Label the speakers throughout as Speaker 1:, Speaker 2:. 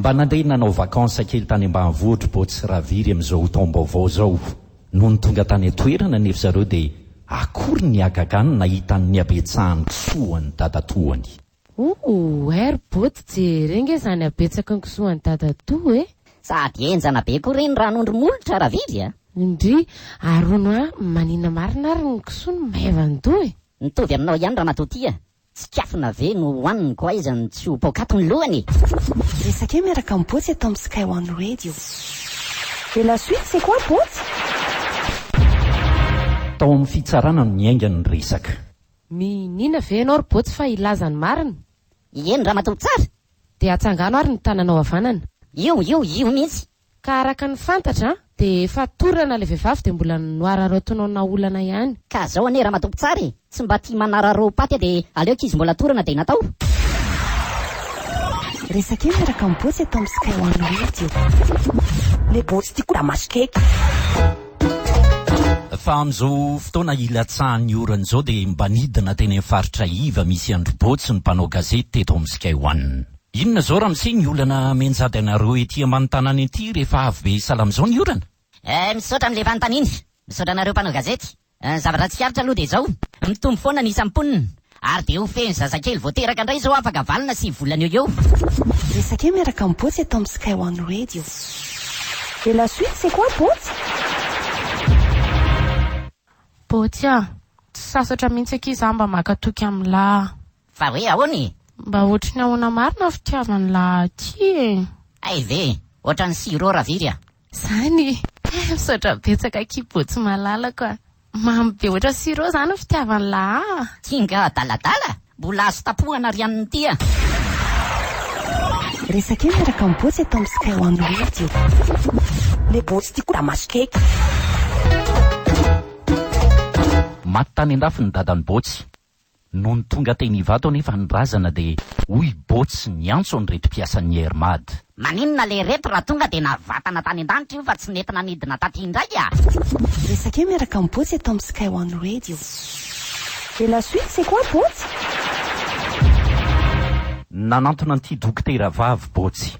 Speaker 1: Mba nandeha nanao vacances kely tany ambanivohitry Boto sy Raviry amin'izao taom-baovao izao. Nony tonga tany an-toerana anefa zareo dia akory ny hagagany nahita ny nihabetsahan'ny kisoa an'i dadatoany. Ooh
Speaker 2: ry Boto jere ange izany habetsaky ny kisoa an'i dadatoa e! Sady henjana be
Speaker 3: koa ireny ranondro molotra Raviry a! Ndrii,
Speaker 2: arono a! Maninona marina ary ny kisoa no maivandoha e! Mitovy aminao ihany ramatoa
Speaker 3: tia! Tsikafona ve no hohaniny ko aiza no tsy ho paokaty ny lohany e! Resakay
Speaker 4: miaraka am Bôtsy eto am Sky One Radio. Et la suite c'est quoi Bôtsy?
Speaker 1: Tao amin'ny fitsarana no niainga ny resaka. Mihiniana
Speaker 2: ve ianao ry Bôtsy fa hilaza ny marina? Eny ramatoa
Speaker 3: tsara! Dia atsangano
Speaker 2: ary ny tananao havanana. Io, io, io
Speaker 3: mihitsy. Ka araka ny
Speaker 2: fantatra dia efa torana ilay vehivavy dia mbola noararaotinona olana ihany. Ka zao anie ramatoa
Speaker 3: mpitsara e, tsy mba tia manararaoa paty a dia aleo kizy mbola torana dia natao.
Speaker 4: Resaka io miaraka am botsy eto am sky one radio. Le botsy tiako da masikeiky.
Speaker 1: Fa amin'izao fotoana hilatsahan'ny orana izao dia mba nidina teny amin'ny faritra iva misy an-dry Botsy ny mpanao gazety teto amin'ny Sky One. Inona izao ramose ny olana menjady anareo ety ambany tanàna ety rehefa avy be salama izao ny orana? Eh misaotra anle
Speaker 3: fanontaniana. Misaotra anareo mpanao gazety. Ny zavatra tsikaritra aloha dia izao, mitombo foana ny isan'ny mponina, ary dia ho fehiny zazakely vao teraka indray izao afaka valona sivy volana eo eo. Resake
Speaker 4: miaraka am Botsy eto am Sky One Radio. Et la suite c'est quoi Botsy?
Speaker 2: Botsy ah! Tsy sasatra mihitsy akia za mba maka toky am la. Fa hoe ahoana
Speaker 3: e? Mba ohatry ny ahoana
Speaker 2: marina ny fitiavan'i Laha aty e? Hay ve!
Speaker 3: Ohatran'ny sirop raviry a! Zany
Speaker 2: e! Misaotra betsaka Kibo tsy malalako a! Mamy be ohatran'ny sirop zany ny fitiavan'i Laha a! Kinga adaladala?
Speaker 3: Mbola azo tapohana ry an'ny ty a!
Speaker 4: Resake miaraka am Botsy eto am Sky One Radio. Le botsy ty koa da maso keky.
Speaker 1: Maty tany andafy ny dadan'i Botsy. Nony tonga teny Ivato anefa ny razana dia hoy Bots niantso an'ireto mpiasan'ny Air Mad. Maninona le reto
Speaker 3: raha tonga dia navatana tany an-danitra io fa tsy nety nanidina taty indray a! Resaka eo
Speaker 4: miaraka amin'i Bots eto amin'ny Sky One Radio. Et la suite c'est quoi Bots?
Speaker 1: Nanantona an'ity dokotera vavy Bots.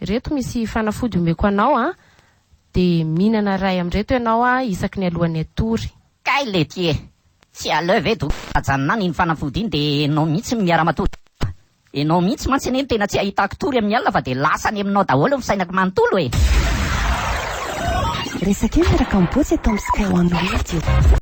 Speaker 2: Ireto misy fanafody omeko anao an! De mihinana iray amin'ireto ianao an isaky ny alohan'ny hatory. Kay lety e!
Speaker 3: Tsy aleo ve doc ajanona any iny fanafody iny de enao mihitsy no miara-matory aminao an! Enao mihitsy mantsy anie no tena tsy ahitako tory amin'ny alina fa de lasa any aminao daholo ny fisainako manontolo e!
Speaker 4: Resak'io miaraka am-botsy eto am Sky One Radio.